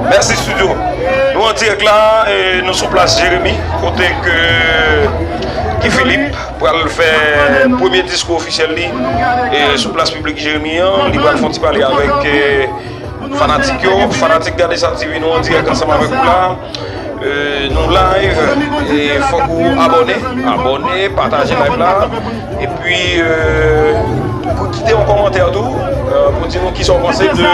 Merci studio Nou an dirèk la e nou sou plas Jeremi kote ke Guy Philippe pral fè premye diskou ofisyèl li e sou plas piblik Jeremi an li pral fon ti pale avèk fanatik yo, fanatik Gade Sa TV nou an dirèk ansanm avèk ou la nou live e fòk ou abòne abòne, pataje live la e pi pou kite yon kòmantè tou pou di nou kisa ou panse de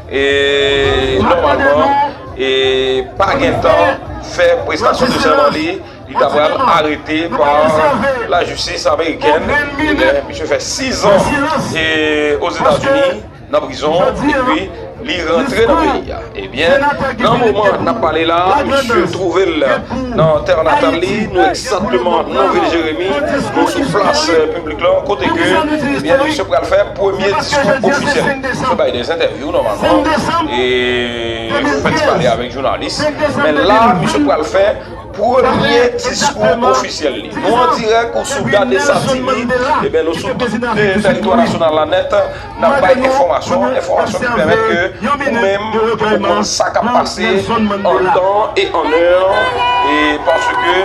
E nòmalman e pa gen tan fè prestasyon de sèman li, li ta pral arete pa la jistis amerikèn. Ebyen misye fè 6 an e Ozetazini nan prizon epi li rantre nan peyi a. Ebyen nan moman nap pale la misye twouve l nan tè natal li, nou egzatteman nan vil Jeremi, nou sou plas piblik. Klon kote ke ebyen misye pral fè premye diskou ofisyèl li. Li fè bay de entèvyou nòmalman e li fè ti pale avèk jounalis. Men la misye pral fè premye diskou ofisyèl li. Nou an dirèk ou sou Gade Sa TV, ebyen nou sou tout teritwa nasyonal la nèt. Nap bay enfòmasyon, enfòmasyon ki pèmèt ke ou menm ou konn sa kap pase an tan e an è, e paske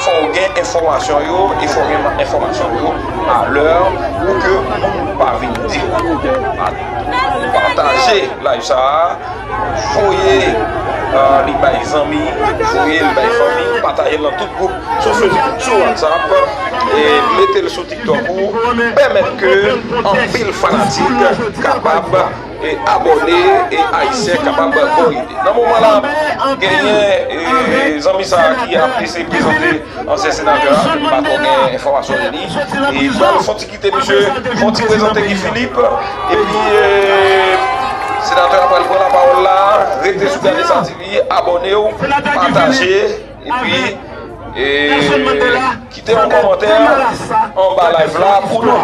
fò ou gen enfòmasyon yo e fò ou gen enfòmasyon yo a lè pou ke moun pa vin di ou. Pataje live sa a, voye li bay zanmi, voye li bay fanmi, pataje l nan tout gwoup sou Facebook, sou WhatsApp, e mete l sou. Donk ou pèmèt ke anpil fanatik kapab abòne e ayisyen kapab bon lide. Nan moman la genyen zanmi sa ki ap eseye prezante ansyen senatè a depi pa tro gen enfòmasyon de li e pral fon ti kite misye fon ti prezante Guy Philippe epi senatè a pral pran lapawòl la rete sou Gade sa TV abònew pataje. Epi e kite yon komantè anba live la pou nou.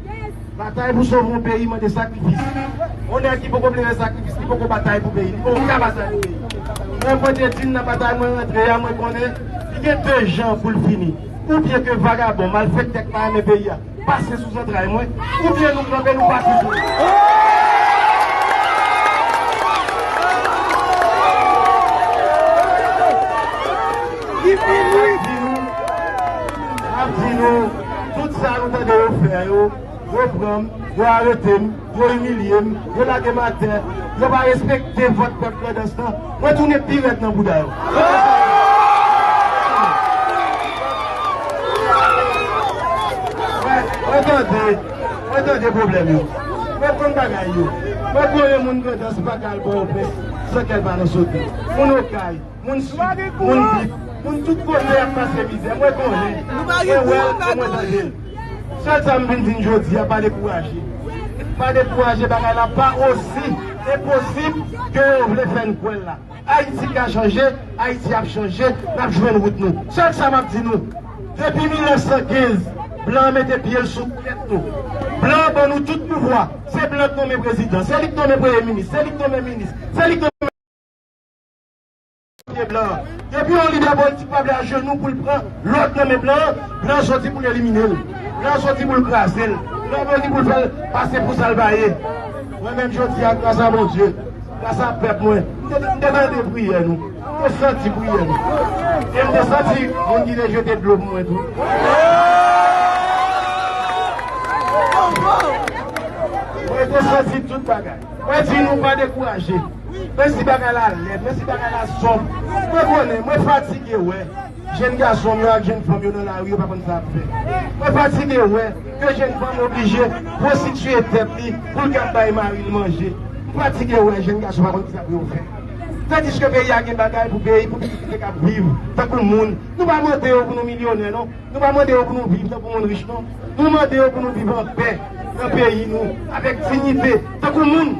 Batay pou sove yon peyi mande sakrifis. Yon nèg ki poko vle fè sakrifis, li poko batay pou peyi, li poko ka batay pou peyi. Mwen pote di n nan batay mwen rantre a, mwen konnen li gen de jan pou l fini. Oubyen ke vagabon, malfèktè k pa renmen peyi a pase sou zantray mwen, oubyen nou kanpe nou pa touye. Mwen ap di nou, mwen ap di nou. Tout sa nou tande yo fè yo, yo pran m, yo arete m, yo imilye m, yo lage m atè, yo pa respekte vòt pèp Grandans lan, mwen tounen pi rèd nan bouda yo. Mwen tande, mwen tande pwoblèm yo, mwen konn bagay yo. Mwen konnen moun Grandans pa ka al Pòtoprens san kè l pa nan sote. Moun Okay, Moun swiv, moun bip, moun tout kote ap pase mizè. Mwen konnen, mwen wè l e mwen tande l. Sèl sa m vin di n jodi a, pa dekouraje. Pa dekouraje, bagay la pa osi enposib ke yo vle fè n kwè l la. Ayiti ka chanje, Ayiti ap chanje, n ap jwenn wout nou. Sèl sa m ap di nou, depi 1915, blan an mete pye l sou tèt nou. Blan an ban nou tout pouvwa. Se blan k nonmen prezidan, se li k nonmen premye minis, se li k nonmen minis, se li k nonmen. Pye blan an. Depi yon lidè politik pa vle ajenou pou l pran lòd nan men blan an, blan an soti pou l elimine l. Blan an soti pou l kraze l. Blan an soti pou l fè l pase pou sa l pa ye. Mwen menm jodi a, gras a Bondye, gras a pèp mwen, m te m te tande priyè nou. M te santi priyè nou. E m te santi moun ki te jete dlo pou mwen tou. Mwen te santi tout bagay. Mwen di nou pa dekouraje. Menm si bagay la lèd, menm si bagay la sonb, mwen konnen, mwen fatige wè jenn gason m yo ak jenn fanm yo nan lari yo pa konn sa y ap fè. Mwen fatige wè ke jenn fanm oblije pwostitiye tèt li pou l kab bay mari l manje. M fatige wè jenn gason pa konn kisa pou yo fè. Tandiske peyi a gen bagay pou peyi pou pitit li te kab viv tankou moun. Nou pa mande yo pou nou milyonè non. Nou pa mande yo pou nou viv tankou moun rich non. Nou mande yo pou nou viv an pè nan peyi nou avèk dignite tankou moun.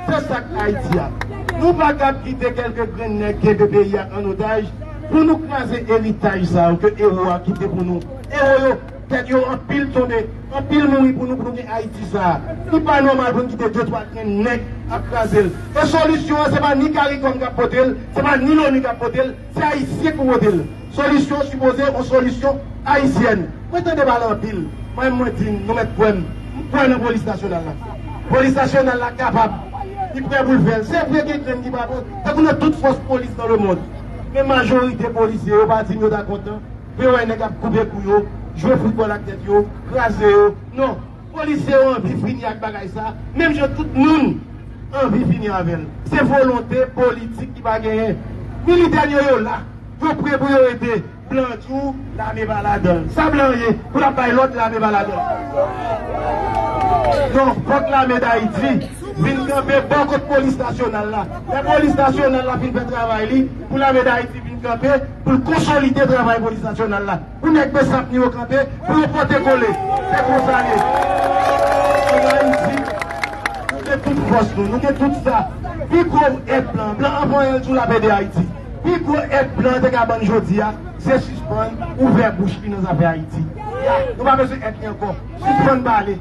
Se sa k Ayiti a. Nou pa ka p kite kèlke grenn nèg kenbe peyi a an otaj pou nou kraze eritaj sa yo ke ewo a kite pou nou. Ewo yo, tèt yo anpil tonbe, anpil mouri pou nou pou nou gen Ayiti sa a. Li pa nòmal pou n kite de twa grenn nèg ap kraze l. E solisyon an se pa ni caricom k ap pote l, se pa ni loni k ap pote l, se Ayisyen ki pou pote l. Solisyon sipoze yon solisyon ayisyèn. Mwen tande pale anpil. Mwen menm mwen di n, nou mèt kwè m, m kwè nan polis nasyonal la. Polis nasyonal la kapab, li prè pou l fè l. Se vre gen grenn ki pa bon, tankou nan tout fòs polis nan lemond. Men majorite polisye yo pa di m yo ta kontan pou yo wè nèg ap koupe kou yo, jwe foutbòl ak tèt yo, kraze yo. Non. Polisye yo anvi fini ak bagay sa, menm jan tout moun anvi fini avè l. Se volonte politik ki pa genyen. Militè n yo, yo la. Yo pre pou yo ede blan di w lame pa ladanl. Sa blan an ye pou lap bay lòd lame pa ladanl? Non, fòk lame dayiti vin kanpe bò kot polis nasyonal la. Lè polis nasyonal la fin fè travay li, pou lame dayiti vin kanpe pou l konsolide travay polis nasyonal la. Pou nèg Besantni yo kanpe, pou yo pote kole. Se konsa l ye. Ann Ayiti, nou gen tout fòs nou, nou gen tout sa. Pi gwo èd blan, blan an vanyan l toujou l ap ede Ayiti. Pi gwo èd blan an te ka ban n jodi a, se sispann ouvè bouch li nan zafè Ayiti. Nou pa bezwen èd li ankò. Sispann pale.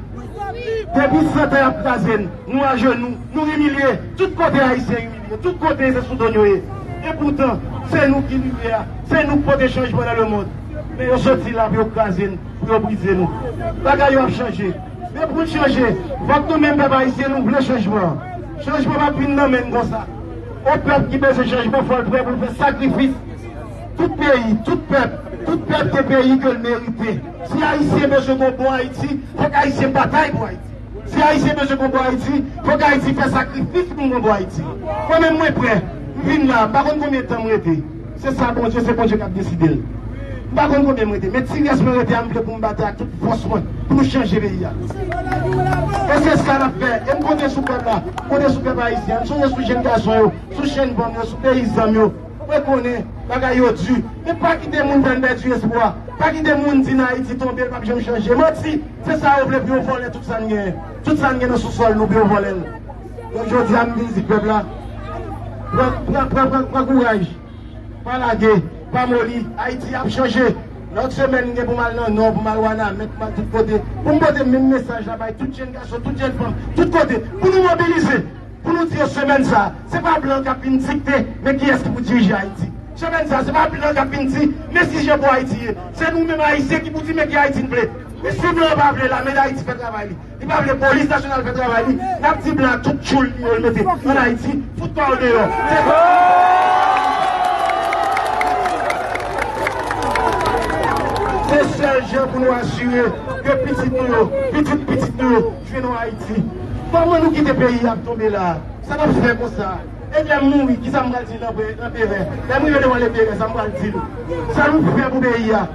Depi santan y ap kraze n, nou ajenou, nou imilye. Tout kote Ayisyen imilye. Yo tout kote se sou do n yo ye. E poutan, se nou ki limyè a, se nou k pote chanjman nan lemond. Men yo soti la pou yo kraze n, pou yo brize nou. Bagay yo ap chanje. Men pou n chanje, fòk nou menm pèp ayisyen nou vle chanjman an. Chanjman p ap vin nan men n konsa. On pèp ki bezwen chanjman fò l prè pou l fè sakrifis. Tout peyi, tout pèp, tout pèp gen peyi ke l merite. Si ayisyen bezwen gen yon bon Ayiti, fòk ayisyen batay pou Ayiti. Si Ayisyen bezwen konpò Ayiti, fòk Ayiti fè sakrifis pou n konpò Ayiti. Mwen menm mwen prè. M vin la a, m pa konn konbyen tan m rete. Se sa Bondye, se Bondye k ap deside l. M pa konn konbyen m rete. Men ti rès mwen rete a m vle pou m batay ak tout fòs mwen pou nou chanje peyi a. E se sa n ap fè. E m konte sou pèp la. M konte sou pèp Ayisyen an. M sonje sou jenn gason yo, sou jenn fanm yo, sou peyizan m yo. Mwen konnen bagay yo di, men pa kite moun fè n pèdi espwa. Pa kite moun di nan Ayiti tonbe, l pap janm chanje. Manti! Se sa yo vle pou yo vòlè tout sa n genyen. Tout sa n gen nan sousòl nou pou yo vòlè l. Donk jodi a m vin di pèp la, pran pran pran pran kouraj. Pa lage, pa moli. Ayiti ap chanje. Nan yon semèn m gen pou m al nan Nò, pou m al Wanament, pou m al tout kote. Pou m pote menm mesaj la bay tout jenn gason, tout jenn fanm, tout kote. Pou nou mobilize! pou nou di yo semèn sa a, se pa blan k ap vin dikte men kiyès ki pou dirije Ayiti. Semèn sa a, se pa blan k ap vin di men si jan pou Ayiti ye. Se nou menm Ayisyen ki pou di men ki Ayiti n vle. Men si blan an pa vle Lame Dayiti fè travay li, li pa vle Polis Nasyonal fè travay li, n ap di blan an tout tchoul li yo l mete ann Ayiti, fout pa w deyò. Se sa! Se sèl jan pou nou asire ke pitit nou yo, pitit pitit nou yo, Jwe non Haiti. Koman nou kite peyi ap tonbe la a? Sa nap fè konsa? Et lèm mouri kisa m pral di lanperè? Lèm rive devan leperè sa m pral di l? Sa nou k fè pou peyi a?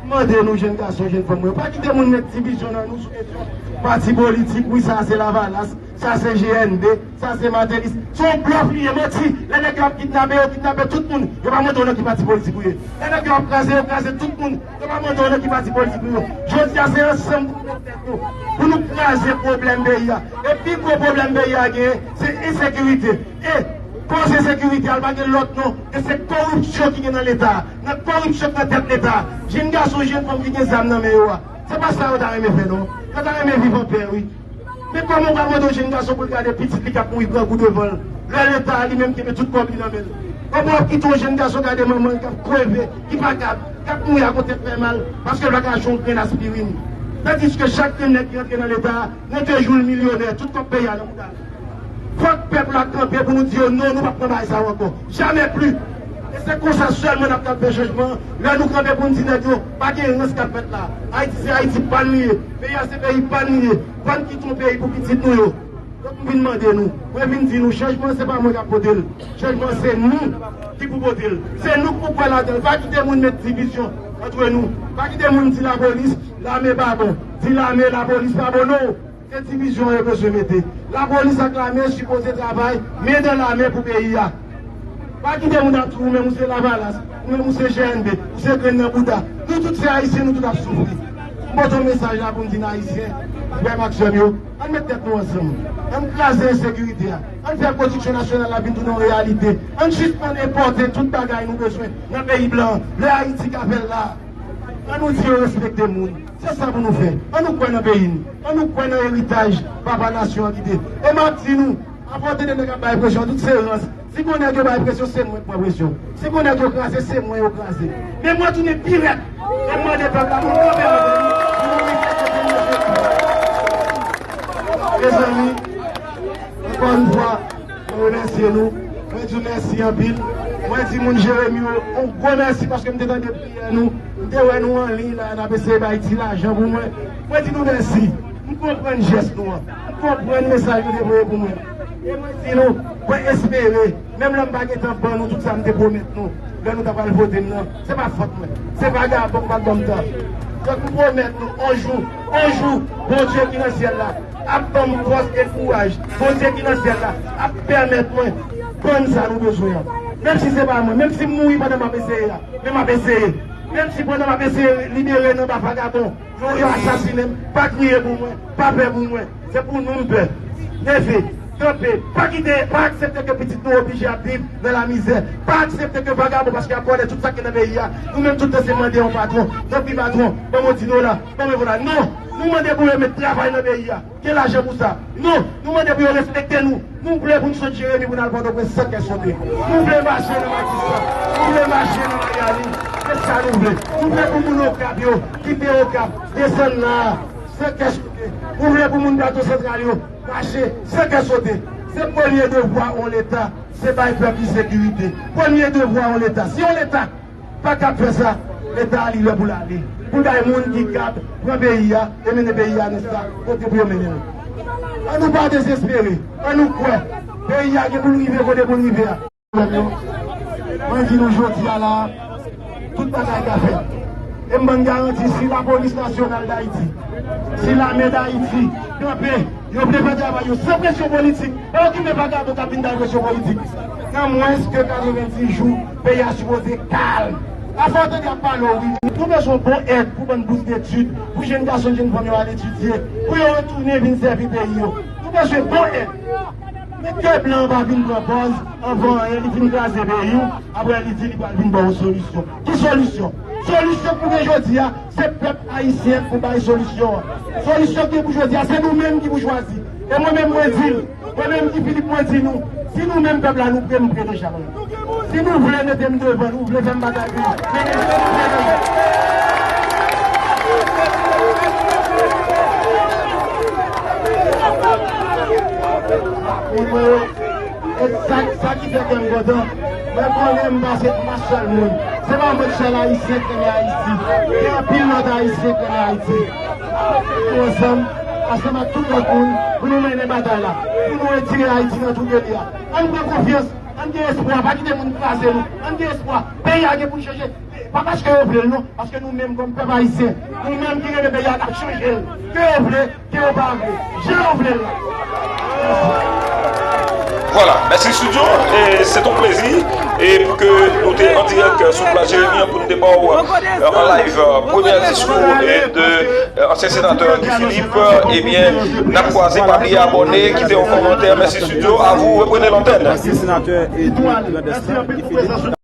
M mande nou jenn gason jenn fanm mwen, pa kite moun met divizyon nan nou sou kesyon pati politik, wi sa a se lavalas, sa a se GND. Sa se Martelly se yon blòf li ye manti lè nèg yo ap kidnape yo kidnape tout moun yo pa mande w nan ki pati politik ou ye lè nèg yo ap kraze yo kraze tout moun yo pa mande w nan ki pati politik ou ye jodi a se ansanm pou nou met tèt nou pou nou kraze pwoblèm peyi a e pi gwo pwoblèm peyi a genyen se ensekirite e koz ensekirite a l pa gen lòt non e se koripsyon ki gen nan leta a nan koripsyon k nan tèt leta a jenn gason jenn fanm ki gen zam nan men yo a se pa sa yo ta renmen fè non yo ta renmen viv an pè wi. Men kòman ou ka mande yon jenn gason pou l gade pitit li k ap mouri grangou devan l, lè Leta a li menm kenbe tout kòb li nan men l? Kòman w ap kite yon jenn gason gade manman l k ap kreve, ki pa kab, k ap mouri ak yon tèt fè mal, paske l pa ka achte yon grenn aspirin? Tandiske chak grenn nèg ki rantre nan Leta a, nan de jou l milyonè, tout kòb peyi a nan mouda l. Fòk pèp la kanpe pou nou di yo non, nou p ap pran bagay sa yo ankò. Jamais plus! E se konsa sèlman n ap kapab fè chanjman an, lè nou kanpe pou n di nèg yo, Pa gen rans kap fèt la. Ayiti se Ayiti pa n li ye. Peyi a se peyi pa n li ye. Pa n kite yon peyi pou pitit nou yo. Donk m vin mande nou. Mwen vin di nou chanjman se pa mwen kap pote l. Chanjman se nou ki pou pote l. Se nou ki pou kwè ladan l. Pa kite moun met divizyon antre nou. Pa kite moun di lapolis, lame pa bon. Di lame, lapolis pa bon non. Se divizyon yo bezwen mete. La polis ak lame sipoze travay men dan la men pou peyi a. Pa kite moun ap di ou menm ou se lavalas, ou menm ou se GNB, ou se grenn nan bouda. Nou tout se ayisyen nou tout ap soufri. M pote yon mesaj la pou m di n ayisyen, frè m ak sè m yo, ann met tèt nou ansanm. Ann kraze ensekirite a. Ann fè pwodiksyon nasyonal la vin tounen yon reyalite. Ann sispann enpòte tout bagay nou bezwen nan peyi blan an. Lè Ayiti ka fè l la. Annou di yo respekte moun. Se sa pou nou fè. An nou kwè nan peyi nou. An nou kwè nan eritaj papa nasyon an kite. E map di nou, apòte de nèg ap bay presyon tout se rans. Si gon nèg yo bay presyon se mwen k pran presyon. Si gon nèg yo kraze se mwen yo kraze. Men mwen tounen pi rèd e m mande pèp la pou l kanpe avè m pou nou lite kote nou vle tounen. Mezanmi, ankò yon fwa, mwen remèsye nou. Mwen di w mèsi anpil. Mwen di moun Jeremi yo yon gwo mèsi paske m te tande. Yè nou te wè nou anliy la nap eseye bay ti lajan pou mwen. Mwen di nou mèsi. M konprann jès nou an. M konprann mesaj nou te voye pou mwen an. E mwen di nou, mwen espere, menm lè m pa gen tan ban nou tout sa m te pwomèt nou lè nou ta pral vote m nan, se pa fòt mwen. Se vagabon k pa t ban m tan. Donk m pwomèt nou on jou, on jou, Bondye ki nan syèl la, ap ban m fòs e kouraj. Bondye ki nan syèl la ap pèmèt mwen jwenn sa nou bezwen an. Menm si se pa mwen, menm si m mouri pandan m ap eseye a, men m ap eseye. Menm si pandan m ap eseye libere n anba vagabon yo, yo asasinen m, pa kriye pou mwen, pa pè pou mwen. Se pou nou m pè. Neve, kanpe. Pa kite, pa aksepte ke pitit nou oblije ap viv nan lamizè. Pa aksepte ke vagabon paske y ap vòlè tout sa ki nan peyi a. Nou menm tout nou se mande yon patwon. Tanpri patwon, ban m yon ti dola. Benevona, Non! Nou mande pou yo met travay nan peyi a. Gen lajan pou sa. Non! Nou mande pou yo respekte nou. Nou vle pou n sot Jeremi pou n al Pòtoprens san kè sote. Nou vle mache nan Matisan. Nou vle mache nan Mayani. Se sa nou vle. Nou vle pou moun Okap yo kite Okap, desann la a, san kè sote. Nou vle pou moun Plato Santral yo mache san kè sote. Se premye devwa on Leta, se bay pèp li sekirite. Premye devwa on Leta, si on Leta. Pa kap fè sa, leta a li lè pou l ale, pou l bay moun ki kab pran peyi a e mennen peyi a nan sa kote pou yo mennen l. An nou pa dezespere, an nou kwè, peyi a gen pou l rive kote pou l rive a. Frè m yo, mwen di nou jodi a la a, tout bagay ka fèt. E m ban n garanti si Lapolis Nasyonal Dayiti, si Lame Dayiti kanpe, yo vle fè travay yo san presyon politik, pa okipe vagabon k ap vin bay presyon politik, nan mwens ke 90 jou, Peyi a sipoze kalm. Afè w tande ap pale w wi. Nou bezwen bon èd pou bann bous detid pou jenn gason jenn fanm yo al etidye pou yo retounen vin sèvi peyi yo. Nou bezwen bon èd. Men ke blan an pa vin pran pòz anvan anyen li fin kraze peyi w aprè li di li pral vin ba w solisyon. Ki solisyon? Solisyon pou gen jodi a se pèp ayisyen pou bay solisyon an. Solisyon ki pou jodi a se nou menm ki pou chwazi. E mwen menm mwen di l. Mwen menm Guy Philippe mwen di nou, si nou menm pèp la nou pre m pre deja mwen. Si nou vle mete m devan, nou vle fè m batay pou nou, men men se nou vle nan men. Mwen kwè yo, e sa ki fè kè m kontan, mwen konnen m pase m pa sèl moun. Se pa mwen k sèl ayisyen k renmen Ayiti, gen anpil lòt ayisyen k renmen Ayiti. Pou ansanm, ansanm ak tout lòt moun, pou nou mennen batay la, pou nou retire Ayiti nan twouble li a. An n pran konfyans, an n gen espwa, pa kite moun kraze nou. An n gen espwa, peyi a gen pou l chanje, pa paske yo vle l non, paske nou menm kòm pèp ayisyen, nou menm ki renmen peyi a, n ap chanje l, ke yo vle, ke yo pa vle. Jan yo vle l la. Vwala, mèsi studio, se ton plezi pou ke nou te an dirèk sou Plas Jeremi an pou nou te ba ou an live premyè diskou de ansyen senatè Guy Philippe, ebyen n ap kwaze, pa bliye abòne, kite yon kòmantè, mèsi studio, a vou, reprenez l'antenne.